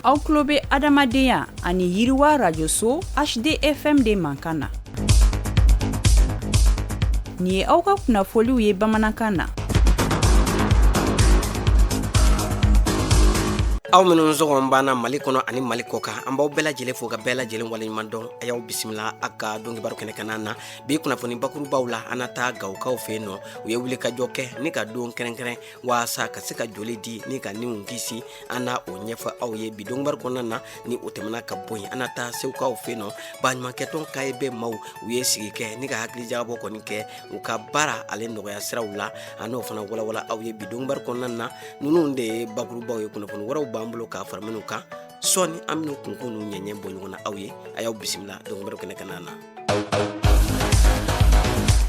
aw tulo bɛ adamadenya ani yiriwa radio so hdfm de mankan na nin ye aw ka kunnafoliw ye bamanankan na aw minnu sɔgɔlen b'an na mali kɔnɔ ani mali kɔ kan an b'aw bɛɛ lajɛlen fo ka bɛɛ lajɛlen waleɲuman dɔn a y'aw bisimila a ka dɔnkibaru kɛnɛ kanna na bi kunnafoni bakurubaw la an na taa gawokaw fɛ yen nɔ u ye wulikajɔ kɛ ni ka don kɛrɛnkɛrɛn waasa ka se ka joli di ni ka niw kisi an na o ɲɛfɔ aw ye bi dɔnkibaru kɔnɔna na ni o tɛmɛna ka bɔ yen an na taa segukaw fɛ yen nɔ baɲumankɛtɔn caeb maaw u ye sigi kɛ ni ka hakilijagabɔ kɔni kɛ u ka baara ale nɔgɔya siraw la an n'o fana walawala aw ye bi dɔnkibaru kɔnɔna na ninnu de ye bakurubaw ye kunnafoni wɛrɛw b'an bolo ka fara minnu kan sɔɔni an minnu kunkun n'u ɲɛɲɛ bɔ ɲɔgɔn na aw ye a y'aw bisimila dɔnkibaru kɛnɛ kanna na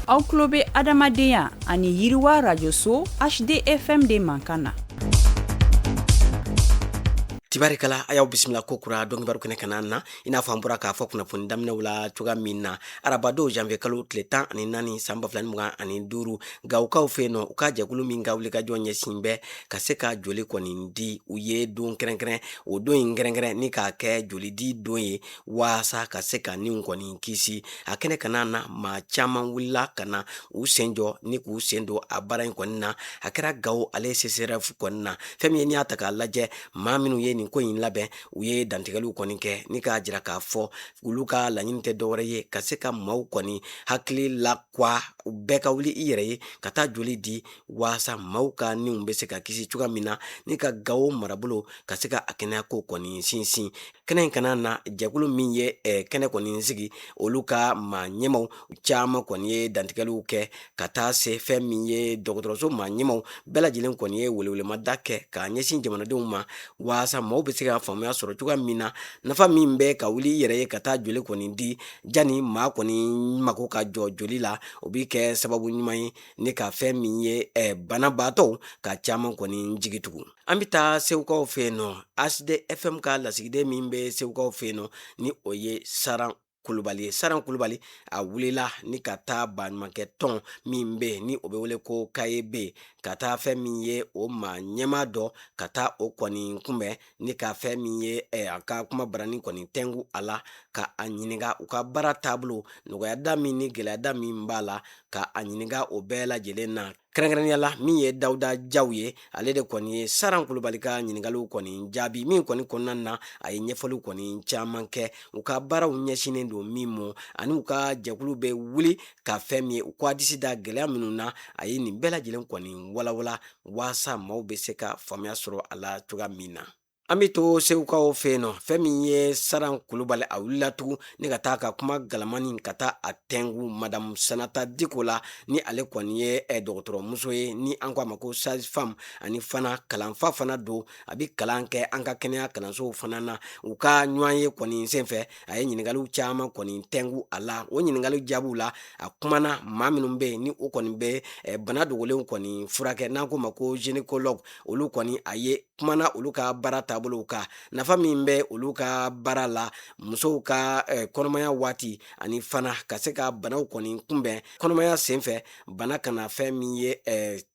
aw tulo bɛ adamadenya ani yiriwa radio-so hdfm de mankan na tibarikala a y'aw bisimila ko kura dɔnkibaru kɛnɛ kanna na i n'a fɔ an bɔra k'a fɔ kunnafoni daminɛw la cogoya min na arabadon janvier kalo tile tan ani naani san bafila ni mugan ani duuru gawokaw fɛ yen nɔ u ka jɛkulu min ka wulikajɔ ɲɛsin bɛ ka se ka joli kɔni di u ye don kɛrɛnkɛrɛn o don in kɛrɛnkɛrɛn ni k'a kɛ jolidi don ye waasa ka se ka niw kɔni kisi a kɛnɛ kanna na maa caman wulila ka na u sen jɔ ni k'u sen don a baara in kɔni na a kɛra gawo ale csref kɔni na fɛn min ye n'i y'a ta k'a lajɛ maa minnu ye nin ko in labɛn u ye dantigɛliw kɔni kɛ ni k'a jira k'a fɔ olu ka laɲini tɛ dɔwɛrɛ ye ka se ka maaw kɔni hakili la kwa u bɛɛ ka wuli i yɛrɛ ye ka taa joli di waasa maaw ka niw bɛ se ka kisi cogoya min na ni ka gawo marabolo ka se ka a kɛnɛyako kɔni sinsin kɛnɛ in kanna na jɛkulu min ye eh, kɛnɛ kɔni sigi olu ka maa ɲɛmaw caman kɔni ye dantigɛliw kɛ ka taa se fɛn min ye dɔgɔtɔrɔso maa ɲɛmaw bɛɛ lajɛlen kɔni ye welewelemada kɛ k'a ɲɛsin jamanadenw ma waasa maaw bɛ se ka faamuya sɔrɔ cogoya min na nafa min bɛ ka wuli i yɛrɛ ye ka taa joli kɔni di jani maa kɔni mako ka jɔ joli la o bɛ kɛ sababu ɲuman ye ni ka fɛn min ye eh, banabaatɔw ka caman kɔni jigi tugu an bɛ taa segukaw fɛ yen nɔ hdfm ka lasigiden min bɛ segukaw fɛ yen nɔ ni o ye saran kulubali ye saran kulubali a wulila ni ka taa baɲumankɛtɔn min bɛ yen ni o bɛ wele ko caeb ka taa fɛn min ye o maa ɲɛma dɔ ka taa o kɔni kunbɛn ni ka fɛn min ye eh, a ka kuma barani kɔni tɛngu a la ka a ɲininka u ka baara taabolo nɔgɔyada min ni gɛlɛyada min b'a la ka a ɲininka o bɛɛ lajɛlen na kɛrɛnkɛrɛnya la min ye dawuda jaw ye ale de kɔni ye saran kulubali ka ɲininkaliw kɔni jaabi min kɔni kɔnɔna na a ye ɲɛfɔliw kɔni caman kɛ u ka baaraw ɲɛsinnen don min ma ani u ka jɛkulu bɛ wuli ka fɛn min ye u k'a disi da gɛlɛya minnu na a ye nin bɛɛ lajɛlen kɔni walawala waasa maaw bɛ se ka faamuyaya sɔrɔ a la cogoya min na an bɛ to segukaw fɛ yen nɔ fɛn min ye saran kulubali a wulila tugun ni ka taa ka kuma galamani ka taa a tɛngu madamu sanata diko la ni ale kɔni ye eh, dɔgɔtɔrɔmuso ye ni an ko a ma ko sage-femme ani fana kalanfa fana don a bɛ kalan kɛ an ka kɛnɛya kalansow fana na u ka ɲɔgɔn ye kɔni senfɛ a ye ɲininkaliw caman kɔni tɛngu a la o ɲininkali jaabiw la a kumana maa minnu bɛ yen ni o kɔni bɛ eh, bana dogolenw kɔni furakɛ n'an k'o ma ko gynécologue olu kɔni a ye kumana olu ka baara taabolow kan nafa min bɛ olu ka baara la musow ka eh, kɔnɔmaya waati ani fana ka se ka banaw kɔni kunbɛn kɔnɔmaya senfɛ bana kana fɛn min ye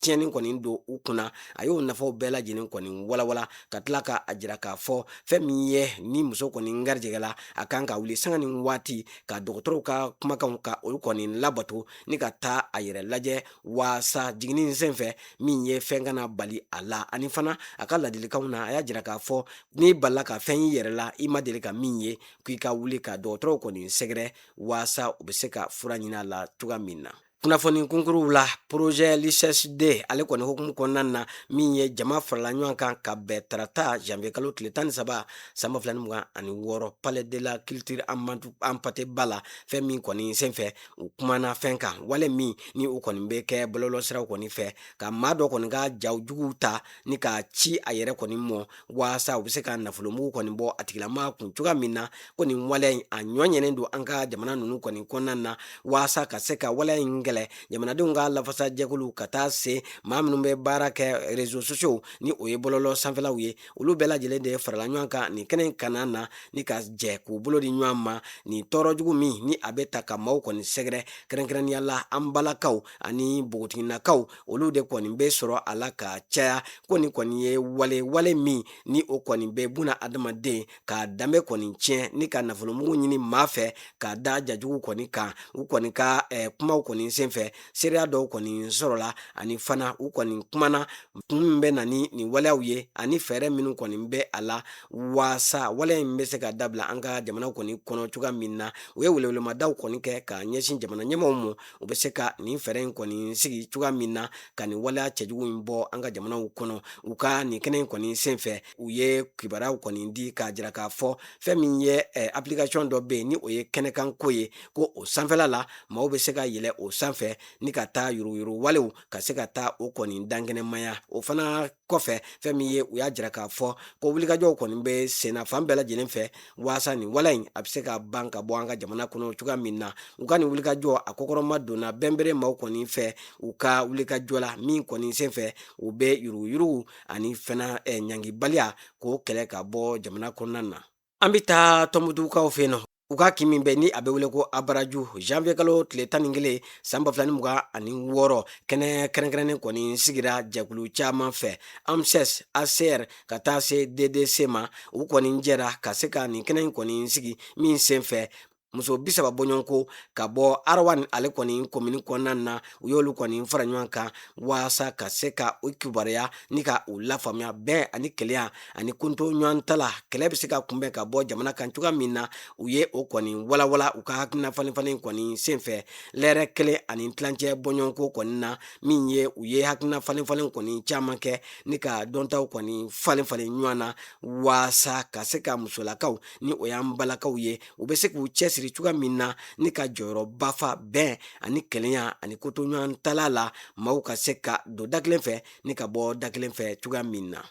tiɲɛni kɔni don u kunna a y'o nafaw bɛɛ lajɛlen kɔni walawala ka tila k'a jira k'a fɔ fɛn min ye ni muso kɔni garijɛgɛla a kan ka wuli sanga ni waati ka dɔgɔtɔrɔw ka kumakanw ka olu kɔni labato ni ka taa a yɛrɛ lajɛ waasa jiginni senfɛ min ye fɛn kana bali a la ani fana a ka ladilikanw na a y'a jira k'a fɔ n'i balila ka fɛn y'i yɛrɛ la i ma deli ka min ye k'i ka wuli ka dɔgɔtɔrɔw kɔni sɛgɛrɛ waasa u bɛ se ka fura ɲini a la cogoya min na kunnafoni kunkuruw la projet lccd ale kɔni hukumu kɔnɔna na min ye jama farala ɲɔgɔn kan ka bɛn tarata janvier kalo tile tan ni saba san ba fila ni mugan ani wɔɔrɔ palais de la culture amadu hampate ba la fɛn min kɔni senfɛ u kumana fɛn kan wale min ni u kɔni bɛ kɛ bɔlɔlɔsiraw kɔni fɛ ka maa dɔ kɔni ka jaw juguw ta ni k'a ci a yɛrɛ kɔni mɔ waasa u bɛ se ka nafolomugu kɔni bɔ a tigilamaa kun cogoya min na ko nin waleya in a ɲɔɲɛnen don an ka jamana ninnu kɔni kɔnɔna na waasa ka se ka waleya in kɛlɛ jamanadenw ka lafasajɛkulu ka taa se maa minnu bɛ baara kɛ réseaux sociaux ni o ye bɔlɔlɔ sanfɛlaw ye olu bɛɛ lajɛlen de farala ɲɔgɔn kan nin kɛnɛ kana na ni ka jɛ k'u bolo di ɲɔgɔn ma nin tɔɔrɔ jugu min ni a bɛ taa ka maaw kɔni sɛgɛrɛ kɛrɛnkɛrɛnnenya la an balakaw ani npogotiginakaw olu de kɔni bɛ sɔrɔ a la ka caya ko nin kɔni ye wale wale min ni o kɔni bɛ buna adamaden ka danbe kɔni tiɲɛ ni ka nafolomugu ɲini maa fɛ ka da ja jugu kɔni kan u kɔni ka eh, kumaw kɔni senfɛ seereya dɔw kɔni sɔrɔla ani fana u kɔni kumana kun min bɛ na ni nin waleyaw ye ani fɛɛrɛ minnu kɔni bɛ a la waasa waleya in bɛ se ka dabila an ka jamana kɔni kɔnɔ cogoya min na u ye welewelemadaw kɔni kɛ ka ɲɛsin jamana ɲɛmɔgɔw ma u bɛ se ka nin fɛɛrɛ in kɔni sigi cogoya min na ka nin waleya cɛjugu in bɔ an ka jamanaw kɔnɔ u ka nin kɛnɛ in kɔni senfɛ u ye kibaruyaw kɔni di k'a jira k'a fɔ fɛn min ye eh, application dɔ bɛ yen ni o ye kɛnɛkanko ye ko o sanfɛla la maaw bɛ se ka yɛlɛ o sanfɛ ni ka taa yuruguyurugu walew ka se ka taa o kɔni dankɛnɛmaya o fana kɔfɛ fɛn min ye u y'a jira k'a fɔ ko wulikajɔw kɔni bɛ senna fan bɛɛ lajɛlen fɛ waasa nin waleya in a bɛ se ka ban ka bɔ an ka jamana kɔnɔ cogoya min na u ka nin wulikajɔ a kɔkɔrɔma donna bɛnbere maaw kɔni fɛ u ka wulikajɔ la min kɔni sen fɛ u bɛ yuruguyurugu ani fana ɲangibaliya k'o kɛlɛ ka bɔ jamana kɔnɔna na an bɛ taa tɔnbutukaw fɛ yen nɔ u ka kin min bɛ ni a bɛ wele ko abaraju janvier kalo tile tan ni kelen san ba fila ni mugan ani wɔɔrɔ kɛnɛ kɛrɛnkɛrɛnnen kɔni sigira jɛkulu caman fɛ amss acr ka taa se ddc ma u kɔni jɛra ka se ka nin kɛnɛ in kɔni sigi min sen fɛ muso bi saba bɔɲɔgɔn ko ka bɔ arawani ale kɔni komini kɔnɔna na u y'olu kɔni fara ɲɔgɔn kan walasa ka se ka u kibaruya ni ka u lafaamuya bɛn ani kelenya ani koto ɲɔgɔn tala kɛlɛ bɛ se ka kunbɛn ka bɔ jamana kan cogoya min na u ye o kɔni walawala u ka hakilina falenfalen kɔni senfɛ lɛrɛ kelen ani tilancɛ bɔɲɔgɔn ko kɔni na min ye u ye hakilina falenfalen kɔni caman kɛ ni ka dɔntaw kɔni falenfalen ɲɔgɔn na walasa ka se ka musolakaw ni o y'an balakaw ye u bɛ se k'u cɛ siri cogoya min na ni ka jɔyɔrɔba fa bɛn ani kelenya ani koto ɲɔgɔn tala la maaw ka se ka don da kelen fɛ ni ka bɔ da kelen fɛ cogoya min na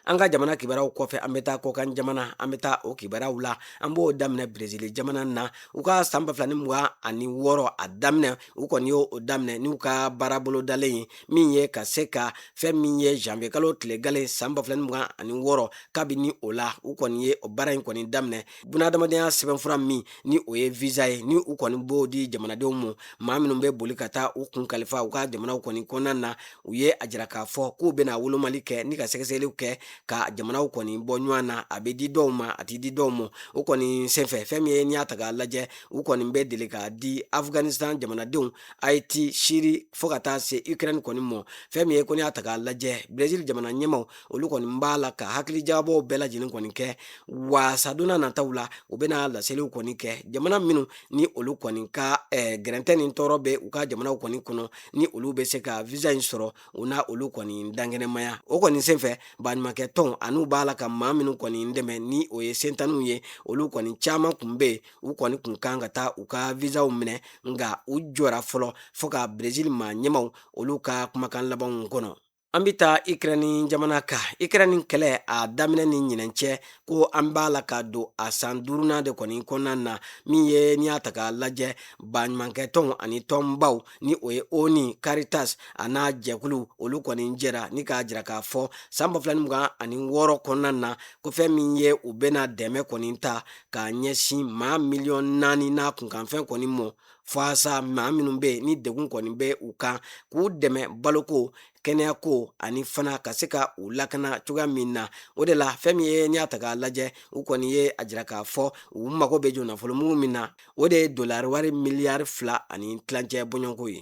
an ka jamana kibaruyaw kɔfɛ an bɛ taa kɔkan jamana an bɛ taa o kibaruyaw la an b'o daminɛ brezili jamana na u ka san ba fila ni mugan ani wɔɔrɔ a daminɛ u kɔni y'o daminɛ n'u ka baarabolo dalen ye min ye ka se ka fɛn min ye janvier kalo tile gale san ba fila ni mugan ani wɔɔrɔ kabini o la u kɔni ye o baara in kɔni daminɛ bunadamadenya sɛbɛnfura min ni o ye visa ye ni u kɔni b'o di jamanadenw ma maa minnu bɛ boli ka taa u kun kalifa u ka jamanaw kɔni kɔnɔna na u ye a jira k'a fɔ k'u bɛna wolomali kɛ ni ka sɛgɛsɛgɛliw kɛ ka jamanaw kɔni bɔ ɲɔgɔn na a bɛ di dɔw ma a tɛ di dɔw ma o kɔni senfɛ fɛn min ye n'i y'a ta k'a lajɛ u kɔni bɛ deli k'a di afghanistan jamanadenw ayiti siri fo ka taa se ukraine kɔni ma fɛn min ye ko n'i y'a ta k'a lajɛ brezil jamana ɲɛmaaw olu kɔni b'a la ka hakilijagabɔw bɛɛ lajɛlen kɔni kɛ waasa donna nataw la u bɛna laseliw kɔni kɛ jamana minnu ni olu kɔni ka eh, gɛrɛntɛ ni tɔɔrɔ bɛ u ka jamanaw kɔni kɔnɔ ni olu bɛ se ka visa in sɔrɔ u na olu kɔni dankɛnɛmaya o kɔni senfɛ baɲumankɛ tɔn an'u b'a la ka maa minnu kɔni dɛmɛ ni o ye sentanniw ye olu kɔni caman kun bɛ yen u kɔni kun kan ka taa u ka visaw minɛ nka u jɔra fɔlɔ fo ka brezil maa ɲɛmaaw olu ka kumakan labanw kɔnɔ an bɛ taa ikrɛnni jamana kan ikrɛnni kɛlɛ a daminɛ ni ɲinɛn cɛ ko an b'a la ka don a san duurunan de kɔni kɔnɔna na min ye n'i y'a ta k'a lajɛ baɲumankɛ tɔnw ani tɔnbaw ni o ye onu caritas an'a jɛkulu olu kɔni jɛra ni k'a jira k'a fɔ san ba fila ni mugan ani wɔɔrɔ kɔnɔna na ko fɛn min ye u bɛna dɛmɛ kɔni ta k'a ɲɛsin maa miliyɔn naani n'a kunkanfɛn kɔni mɔ fasa maa minnu bɛ yen ni degun kɔni bɛ u kan k'u dɛmɛ baloko kɛnɛyako ani fana ka se ka u lakana cogoya min na o de la fɛn min ye n y'a ta k'a lajɛ u kɔni ye a jira k'a fɔ u mago bɛ jɔ nafolomugu min na o de ye dolari wari miliyari fila ani tilancɛ bɔɲɔgɔnko ye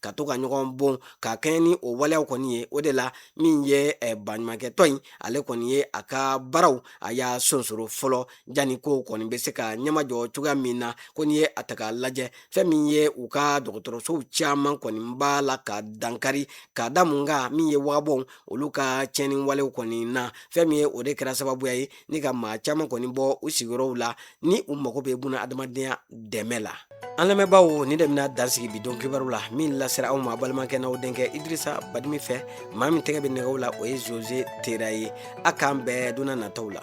ka to ka ɲɔgɔn bon ka kɛɲɛ ni o waleyaw kɔni ye o de la min ye eh, baɲumankɛtɔn in ale kɔni ye a ka baaraw a y'a sonsoro fɔlɔ janni kow kɔni bɛ se ka ɲɛmajɔ cogoya min na ko n'i ye a ta k'a lajɛ fɛn min ye u ka dɔgɔtɔrɔsow caman kɔni b'a la ka dankari ka da mun kan min ye wagabɔw olu ka tiɲɛni walew kɔni na fɛn min ye o de kɛra sababuya ye ni ka maa caman kɔni bɔ u sigiyɔrɔw la ni u mago bɛ buna adamadenya dɛmɛ la an lamɛnbaaw nin de bɛna dan sigi bi don kibaru la min lasera aw ma balimakɛ n'aw denkɛ idrisa badimi fɛ maa min tɛgɛ bɛ nɛgɛw la o ye zoze tera ye a k'an bɛn donna nataw la